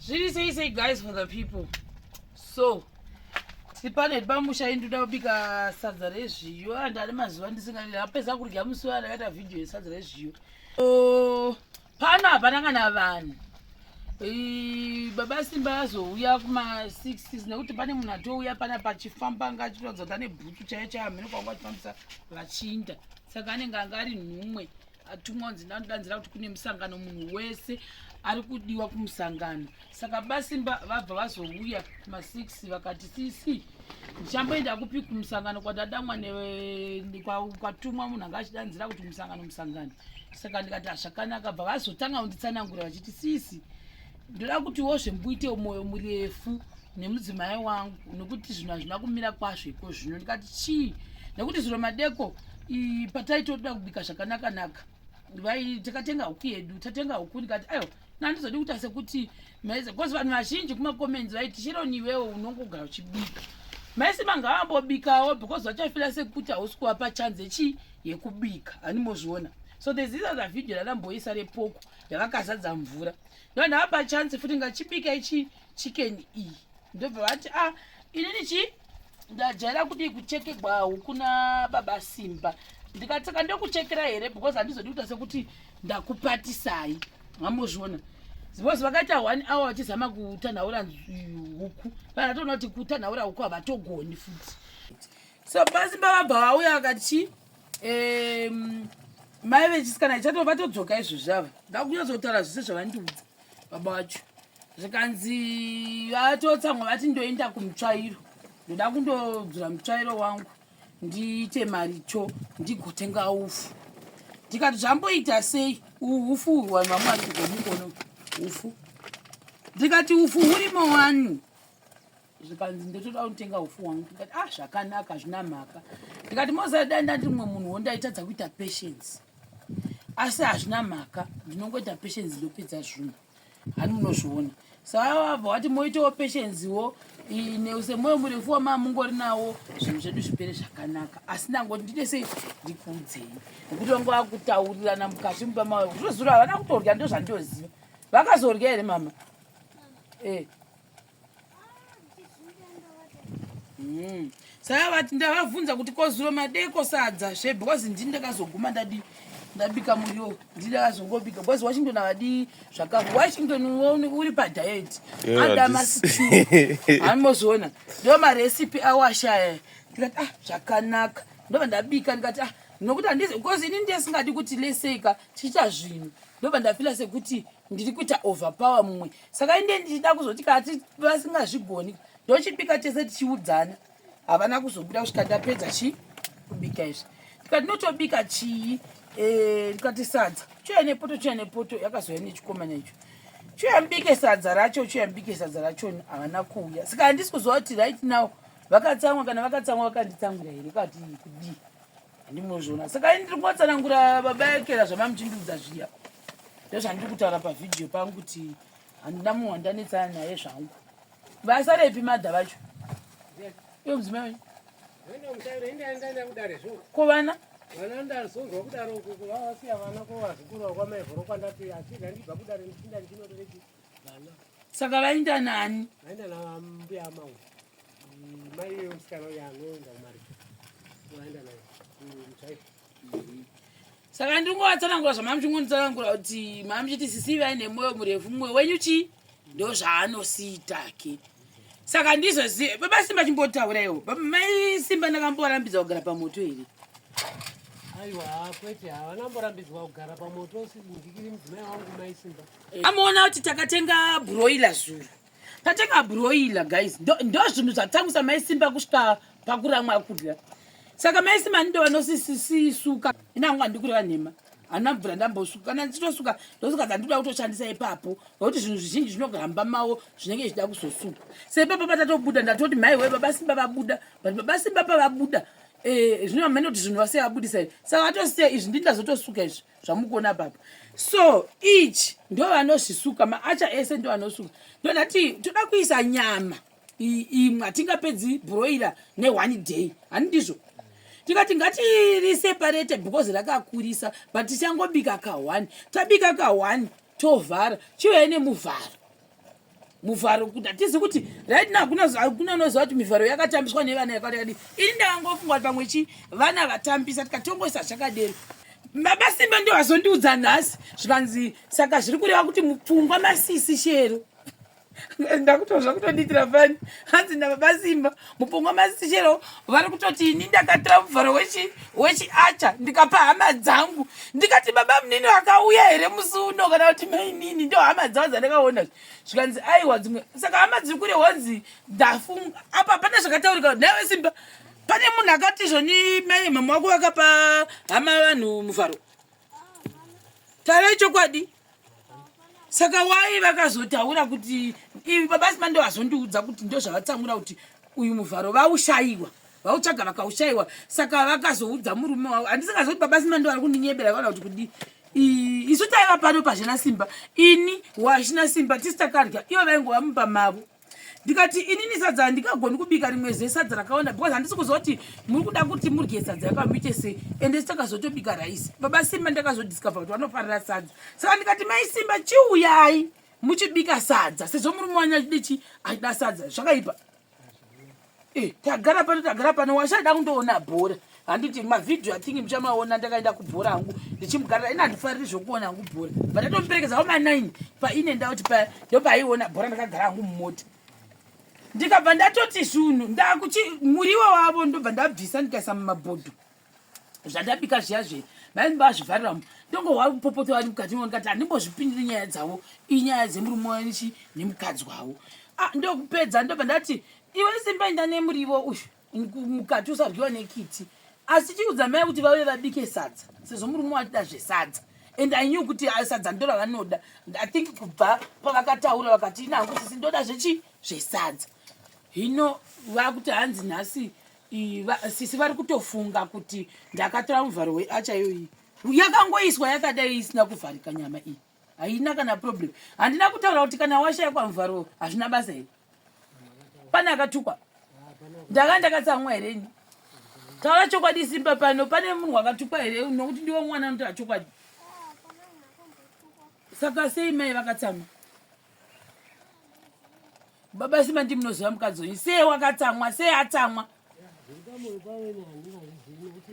zviri sei sei guys for the people so tiri pano iri pamusha ini toda kubika sadza rezviyo and ari mazuva ndisingaii apedza kudya musi wa ndakaita vhidhiyo yesadza rezviyo so pano hapana kana vanhu baba simba azouya kuma 6 nekuti pane munhu atouya pana pachifamba anga achitoratidza kuti ane bhutsu chaiyo chaiyo hamene kwanga achifambisa vachinda saka anenge anga ari nhumwe atumwa unzi ndanodanzira kuti kune musangano munhu wese ari kudiwa kumusangano saka basimba vabva vazouya masix vakati sisi ndichamboenda kupi kumusangano kwadadamwa kwatumwa munhu anga achidanzira kuti musangano musangano saka ndikati hazvakanaka bva vazotanga kunditsanangura vachiti sisi ndoda kutiwo zvembuitewo mwoyo murefu nemudzimai wangu nokuti zvinhu hazvina kumira kwazvo iko zvino ndikati chii nekuti zviro madeko pataitoda kubika zvakanakanaka vai takatenga huku yedu tatenga huku ndikati aiwa nandizodi kuita sekuti maize bcause vanhu vazhinji kumacomments vaiti sheroni iwewo unongogara uchibika maisi manga vambobikawo because vachafira sekuti hausi kuvapa chanze chii yekubika hanimozviona so there's this other video raramboisa repoko yavakazadza mvura ndovandaapa chance futi ngachibika ichii chicken iyi ndobva vati a ah, inini chii ndajaira kudii kuchekegwa huku nababa simba ndikatsaka ndokuchekera here because handizodi kuita sekuti ndakupatisai mamozviona because vakaita one hour vachizama kutanhaura huku vanatoona kuti kutanhaura huku havatogoni futi so basimba vabva vauya vakati mai vechisikana ichato vatodzoka izvozvi ava ndakunyazotaura zvese zvavandiudza baba wacho zvikanzi vatotsamwa vati ndoenda kumutsvairo ndoda kundodzura mutsvairo wangu ndiite mari cho ndigotenga ufu ndikati zvamboita sei uhufu uhwu vanhu vamwe vari kugomukono ufu ndikati ufu hurimo wani zvikanzi ndotoda kutenga ufu wangu ndikati ah zvakanaka zvina mhaka ndikati mozada ndati mumwe munhu wo ndaitadza kuita patience asi hazvina mhaka ndinongoita patience ndopedza zvunhu hani munozviona saavabva wati moitawo patiencewo neusemoyo murefu wamamungori nawo zvinhu zvedu zvipere zvakanaka asi ndangoti ndide sei ndikuudzei nekuti vange vakutaurirana mukati mumba mayo zvozura havana kutorya ndozvandoziva vakazorya here mama e eh. Mm. Saka vati ndavabvunza kuti kozuro madeko sadza zve because ndini ndakazoguma ndadi ndabika muriwo ndini ndakazongobika because Washington avadi zvakafu Washington uri pa diet ada masipi anozoona ndo ma recipe awashaya ndikati ah zvakanaka ndobva ndabika ndikati ah nokuti handizi because ini ndesingadi kuti leseka tichiita zvinhu ndobva ndafila sekuti ndiri kuita overpower mumwe saka inde ndichida kuzoti kati vasingazvigoni ndochipika tese tichiudzana havana kuzobuda kusvika ndapedza chii kubika izvi ndikati ndinotobika chii eh, ndikati sadza chuya nepoto chuya nepoto yakazouya nechikomana icho chuya mbike sadza racho chuya mbike sadza racho havana kuuya saka handisi kuziva kuti right now vakatsamwa kana vakatsamwa vakanditsamwira here kati kudii Ndimozvona. Saka ini ndiri kuvatsanangura baba yekera zvamamuchindiudza zviya. Ndozvandiri kutaura pavideo pangu kuti handina munhu wandanetsana naye zvangu. Vasarepi madha vacho. Iyo mudzimai wenyu. Ko vana? Vana ndazonzwa kudaro kuku vavasiya vana ko vazukuru vakwamai vhoro kwandati achidha ndibva kudare ndichinda ndichinotoreki. saka vainda nani vainda nambuya amau mm, mai musikana uyo anoenda kumarika vainda naye mutsvaiko mm, mm. saka ndingovatsanangura zvamami chingonitsanangura kuti mami chiti sisi vai nemwoyo murefu mumwe wenyu chii ndo zvaanosiitake saka ndizozive baba simba chimbotauraiwo mai simba ndakambovarambidza kugara pamoto here aiwa kwete havana mborambidzwa kugara pamoto ndikiri mudzimai wangu mai simba amoona kuti takatenga broiler zuru tatenga broiler guys ndo zvinhu zvatangisa maisimba kusvika pakuramwa kudya saka maisimba ndindo vanosisisuka inangu andikureva nhema hana mvura ndambosuka kana ndichitosuka ndosuka dzandikuda kutoshandisa ipapo nokuti zvinhu zvizhinji zvinohamba mawo zvinenge zvichida kuzosuka se ipapo patatobuda ndatoti mhai we baba simba vabuda but baba simba pavabuda eh, zvino vamene kuti zvinhu vase vabudisa saka vatosiya izvi ndindazotosuka izvi zvamukuona baba so each ndo vanozvisuka maacha ese ndo vanosuka ndonati toda kuisa nyama imwe hatingapedzi broiler neone day hani ndizvo tikati ngatiriseparate because rakakurisa but tichangobika kaone tabika kaone tovhara chiuya nemuvharo muvharo kuti hatizi kuti right now hakuna unoziva kuti mivharo yakatambiswa nevana yakadikadi ini ndakangofunga kuti pamwe chi vana vatambisa tikatongoisa zvakadero mabasimba ndio vazondiudza nhasi zvikanzi saka zviri kureva kuti mupfungwa masisi shero ndakutozva kutondiitira fani hanzi nababasimba mupungwa masichero vari kutoti ini ndakatora muvharo wechiacha ndikapa hama dzangu ndikati baba munini vakauya here musi uno kana kuti mainini ndo hama dzavo dzandakaona zvikanzi aiwa dzimwe saka hama dziri kure honzi ndafunga apa pane zvakataurika nawe simba pane munhu akati zvoni mai mama wako vakapa hama vanhu muvharo tarai chokwadi saka wai vakazotaura kuti ivi baba sima ndo vazondiudza kuti ndo zvavatsamura kuti uyu muvharo vaushayiwa vautsvaga vakaushayiwa saka vakazoudza murume wavo handisingazii kuti baba sima ndo vari kundinyebera kana kuti kudii isu taiva pano pazvina simba ini wazvina simba tisi takarya ivo vaingova mumba mavo ndikati inini sadza handingagoni kubika rimwe zuva sadza rakawanda because handisi kuziva kuti muri kuda kuti murye sadza yapa muite sei ende sitakazotobika raisi baba simba ndakazodiscover kuti vanofarira sadza saka ndikati mai simba chiuyai muchibika sadza sezvo murume wanya achida chi achida sadza zvakaipa Eh, tagara pano tagara pano washada kundoona bhora handiti mavhidhiyo athingi muchamaona ndakaenda kubhora hangu ndichimugarira ini handifariri zvokuona hangu bhora but ndatomuperekedza wama nine paine nda kuti paya ndopaiona bhora ndakagara hangu mumota ndikabva ndatoti zvunhu ndakuti muriwo wavo ndobva ndabvisa ndikaisa mumabhodho zvandabika zviya zve maini vazvivhariramo ndongohwa mupopoto vari mukati mavo ndikati handimbozvipindiri nyaya dzavo inyaya dzemurume wanichi nemukadzi wavo ah, ndokupedza ndobva ndati iwe simba inda nemurivo uyu mukati usaryiwa nekiti asi chiudza mai kuti vave vabike sadza sezvo murume watida zvesadza and i knew kuti ah, sadza ndo ravanoda i think kubva pavakataura vakati nangu sisi ndoda zvechi zvesadza hino vakuti hanzi nhasi sisi vari kutofunga kuti ndakatora muvharo weacha iyoyi yakangoiswa yakadai isina kuvharika nyama iyi haina kana problem handina kutaura kuti kana washaikwa muvharo hazvina basa here pane akatukwa ndaka ndakatsamwa here ini taura chokwadi simba pano pane munhu wakatukwa here nokuti ndiwo mwana anotaura chokwadi saka sei mai vakatsamwa baba sima ndi munoziva mukadzi wenyu sei wakatsamwa sei atsamwa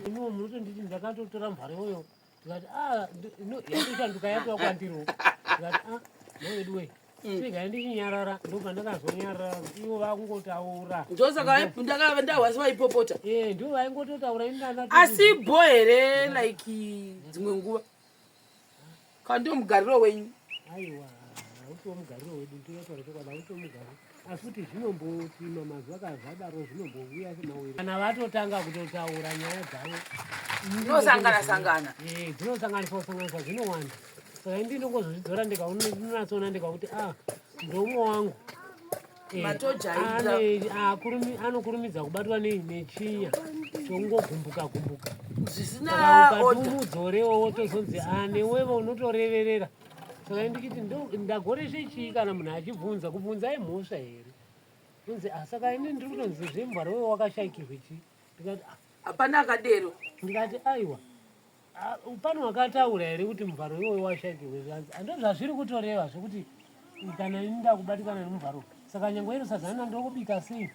munotonditi ndakatotora mvhare uyo tikati ah, yatoshanduka yatova kwandiro tikati a ah, mawedu wei Mm. sega ndichinyarara ndobva ndakazonyarara ivo vakungotaura ndosaka ndakava ndahwasi vaipopota eh, ndivo vaingototaura asi bho here like dzimwe nguva Kana ndiwo mugariro wenyu. Aiwa, hautiwo mugariro wedu, ndinotaura chokwadi, hautiwo mugariro. Asi kuti zvinombopima mazuva kana zvadaro zvinombovuya semawere. Kana vatotanga kutotaura nyaya dzavo. Dzinosangana sangana. Eh, dzinosanganiswa sanganiswa zvinowanda. Saka indi ndongozozvidzora ndikaona ndinonatsoona ndikakuti ah ndoumwe wangu. anokurumidza kubatwa nei nechiya chongogumbuka gumbuka zvisinaukatumudzorewo wotozonzi anewevo ah, unotoreverera saka ndikiti ndagoreshe chii kana munhu achibvunza kubvunza imhosva here unzi ah, saka ini ndiri kutonzi zvembwara wewe wakashaikirwe chii ndikati ah. hapana akadero ndikati aiwa Ah, pane wakataura here kuti muvharo iwoyo washakirwe zvanzi ando zvazviri kutoreva zvekuti kana ini ndakubatikana nemuvharo saka nyange iro sadza rina ndokubika sei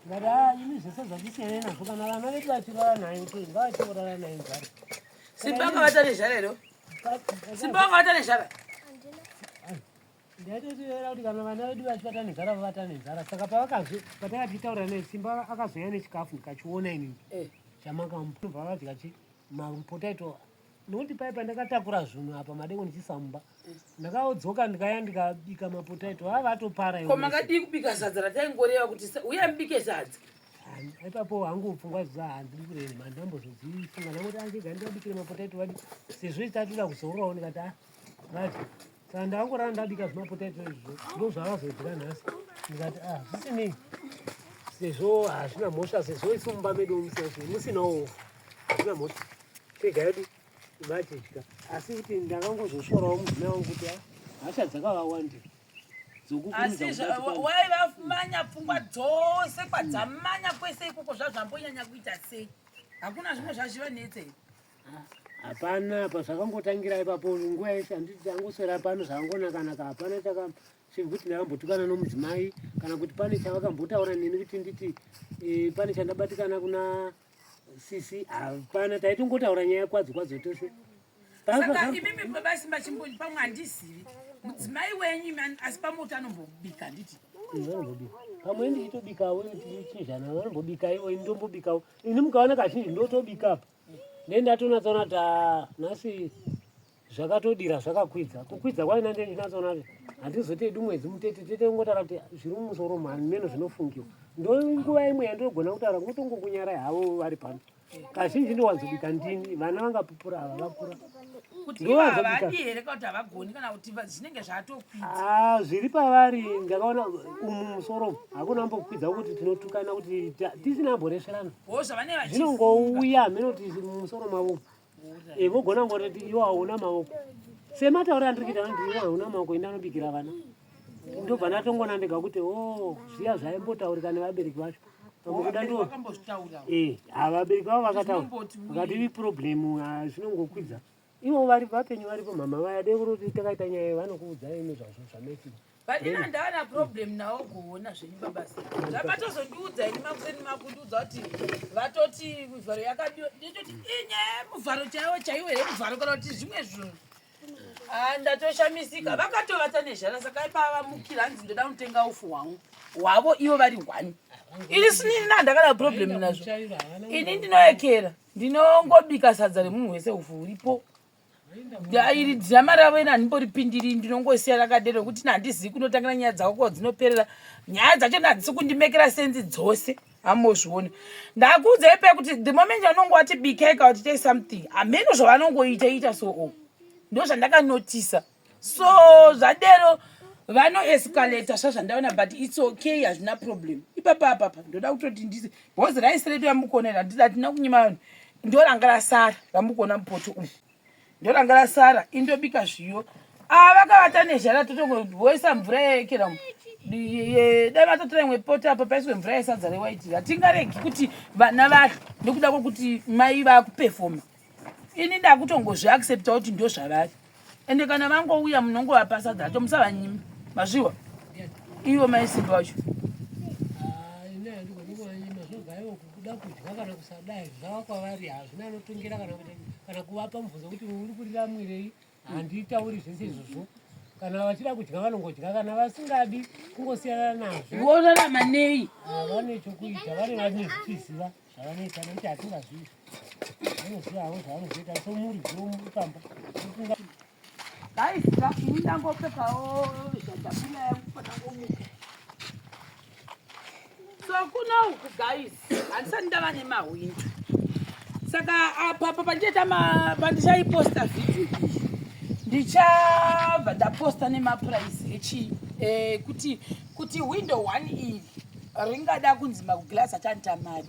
ndikati a ah, ini zvese zvandisiyanai nazvo kana vana vedu vachirara nayo to ngavachiorara nayo mvharo simba anga vata nezhara iro simba anga vata nezhara ndaitotiera kuti kana vana vedu vachi vata nezhara vavata nezhara saka pavakazo patakatitaura naye simba akazoya nechikafu ndikachiona inini eh. chamakamubva vadya chii Makupotai to nokuti paye pandakatakura zvinhu apa madeko ndichisa mumba ndakaodzoka ndikaya ndikabika mapotaito vava vatopara ko makadii kubika sadza rataingoreva kuti uya mbike sadza ipapo hangu pfungwa zviza handidi kurei mani ndambozodzifunga ndangoti andiga ndikabikire mapotaito vadi sezvo itatira kuzororawo ndikati ah, vadi Saka ndakangorara ndabika zvimapotato izvo ndozvavazodya nhasi ndikati ah zvisinei sezvo hazvina mhosva sezvo isu mumba medu musazvo musinawo hazvina mhosva tega yedu vatidya asi kuti ndakangozoshorawo mudzina wangu kuti ah, hasha dzakavawandi dzokukuridzawai vamanya pfungwa dzose kwadzamanya kwese ikoko zvazvambonyanya kuita sei hakuna zvimwe zvazvivanetse Hapana apa zvakangotangira ipapo nguva yese handiti tangoswera pano zvakangonakanaka hapana chaka chiri kuti ndakambotukana nomudzimai kana kuti pane chavakambotaura neni kuti nditi e, pane chandabatikana kuna sisi hapana taitongotaura nyaya kwadzo kwadzo tose imimi basi machimboni pamwe handizivi mudzimai wenyu asi pamwe kuti anombobika handiti pamwe ndichitobikawo chizvana vanombobika ivo ini ndombobikawo ini mukaona kazhinji ndotobika apa Nei ndatonatsaona kuti ah, nhasi zvakatodira zvakakwidza. Kukwidza kwayo nange ndinatsaona kuti handizote hedu mwedzi mutete tete kungotara kuti zviri mumusoro mhani meno zvinofungiwa. Ndonguva imwe yandinogona kutaura ngotongokunyarai havo vari pano. Kazhinji ndowanzobika ndini vana vangapupura ava vakura. kuti Ndiwo ivo ava azobika. havadi here kana kuti havagoni kana kuti va- zvinenge zvatokwidza Ah, zviri pavari ndakaona umu musoro umu, hakuna ambokwidza kuti tinotukana kuti ta- tisina amboresverana zvinongouya hameno kuti mumusoro mavo vogona ngoti iwo hauna maoko sematauri andiri kuita anoti iwo hauna maoko enda anobikira vana ndobva ndatongona ndega kuti o oh, zviya zvaimbotaurika nevabereki vacho pamukuda ndo eh, havabereki vavo vakataura vakati ivi problem ah, zvinongokwidza Ivo vari vapenyu varipo mama vaya dai kuroti takaita nyaya iyo vanokuudzai imi zvazvo zvanetsi. Pandina ndaana problem nawo kuona zvenyu babasa. Zvakatozondiudza ini makuseni makundiudza kuti vatoti mivharo yakadiwa nditoti inyaya muvharo chaiwo chaiwo here muvharo kana kuti zvimwe zvinhu. Ah ndatoshamisika vakatovata nezhara saka ipava mukira hanzi ndoda kunotenga ufu hwangu hwavo ivo vari one. Ini sinini nandakada problem nazvo. Ini ndinoekera. ndinongobika sadza remunhu wese ufu huripo iri dhirama ravo ina handimboripindiri ndinongosiya rakadero kuti ina handizivi kunotangira nyaya dzako ko dzinoperera nyaya dzacho ina hadzisi kundimekera senzi dzose hamozvione ndakuudza ipe kuti the moment anongo wati bikeka kuti tei something hameno zvavanongoita ita so o ndo zvandakanotisa so. so zvadero vanoescalata svazvandaona but its okay hazvina problem ipapa apapa ndoda kutoti ndise bhozi raisi redu ramukona ira ndida tina kunyima vanhu ndoranga rasara ramukona mupoto umu ndoranga rasara indobika zviyo ava ah, vakavata nezhara totongoisa mvura yekera mu dai vatotora imwe poto apa paiswe mvura yesadza rewaiti hatingaregi kuti vana vadlo nekuda kwekuti mai vakupefoma ini ndakutongozvi accepta kuti ndo zvavari ende kana vangouya munongovapasa dzacho musavanyima mazviwa ivo maisimba wacho ah, kana kuvapa mubvunzo kuti uri kurira mwirei handitauri zvese izvozvo kana vachida kudya vanongodya kana vasingadi kungosiyana nazvo vorarama nei ah, vane chokuita vane vanezvichiziva zvavanoita nekuti hatingazivi vanoziva havo zvavanozoita so muri dzomupamba ofunga daisika ini ndangopfekawo zvadabula yangu panangomuka so kuna uku guys handisati ndava nemahwindi saka apapa pandichaita pandichaiposta vhidhio iyi ndichabva ndaposta nemapuraisi echi eh, kuti kuti hwindo one iri ringada kunzi makuglas achanita mari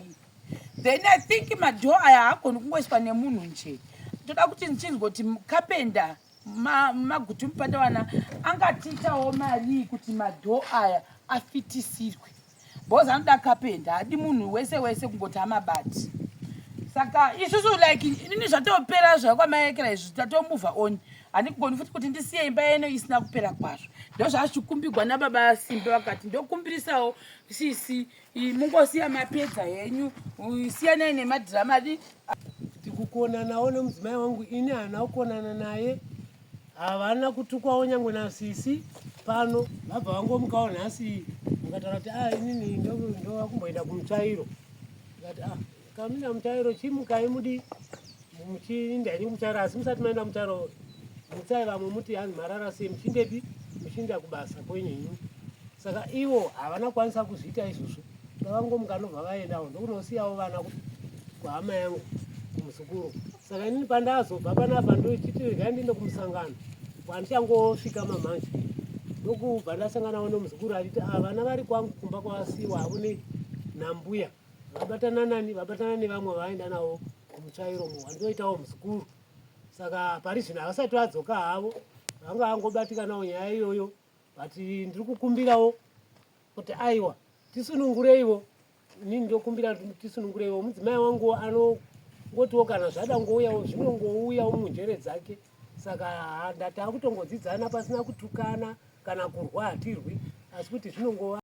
then i think madhoo aya haagoni kungoiswa nemunhu nje ndoda kuti ndichinzwa kuti kapenda magutu mupatawana angatiitawo marii kuti madhoo aya afitisirwe bhozi anoda kapenda hadi munhu wese wese kungoti amabati saka isusu like inini zvatopera zvakwamaekera izvi tatomuvha on handigoni futi kuti ndisiye imba yeno isina kupera kwazvo ndozvazvikumbigwa nababa simbe vakati ndokumbirisawo sisi iyi mungosiya mapedza henyu siyanai nemadhirama di tikukonanawo nemudzimai wangu ini haana kukonana naye havana kutukwawo nyangwe nasisi pano vabva vangomukawo nhasi vakataura kuti a ah, inini ndovakumboenda kumutsvairo ikati a ah, Kamina mutairo chimukai mudi muchiinda ini mutairo asi musati maenda mutairo mutsai vamwe muti hanzi marara sei muchindepi muchiinda kubasa kwenyu ini saka ivo havana kwanisa kuzviita izvozvo vakangomuka nobva vaendawo ndokunosiyawo vana kuti kuhama yangu kumuzukuru saka inini pandazobva panapa ndochiti regai ndiende kumusangano kwandichangosvika mamanje ndokubva ndasanganawo nomuzukuru achiti ah, vana vari kwangu kumba kwavasiwa havone nambuya vabatana nani vabatana nevamwe vaenda navo kumutsvairo mu wandoitawo muzukuru saka pari zvino havasati vadzoka havo vanga vangobatikanawo nyaya iyoyo but ndiri kukumbirawo kuti aiwa tisunungureivo ini ndokumbira tisunungureivo mudzimai wangu anongotiwo kana zvada ngouyawo zvinongouyawo munjere dzake saka ndatakutongodzidzana pasina kutukana kana kurwa hatirwi asi kuti zvinongova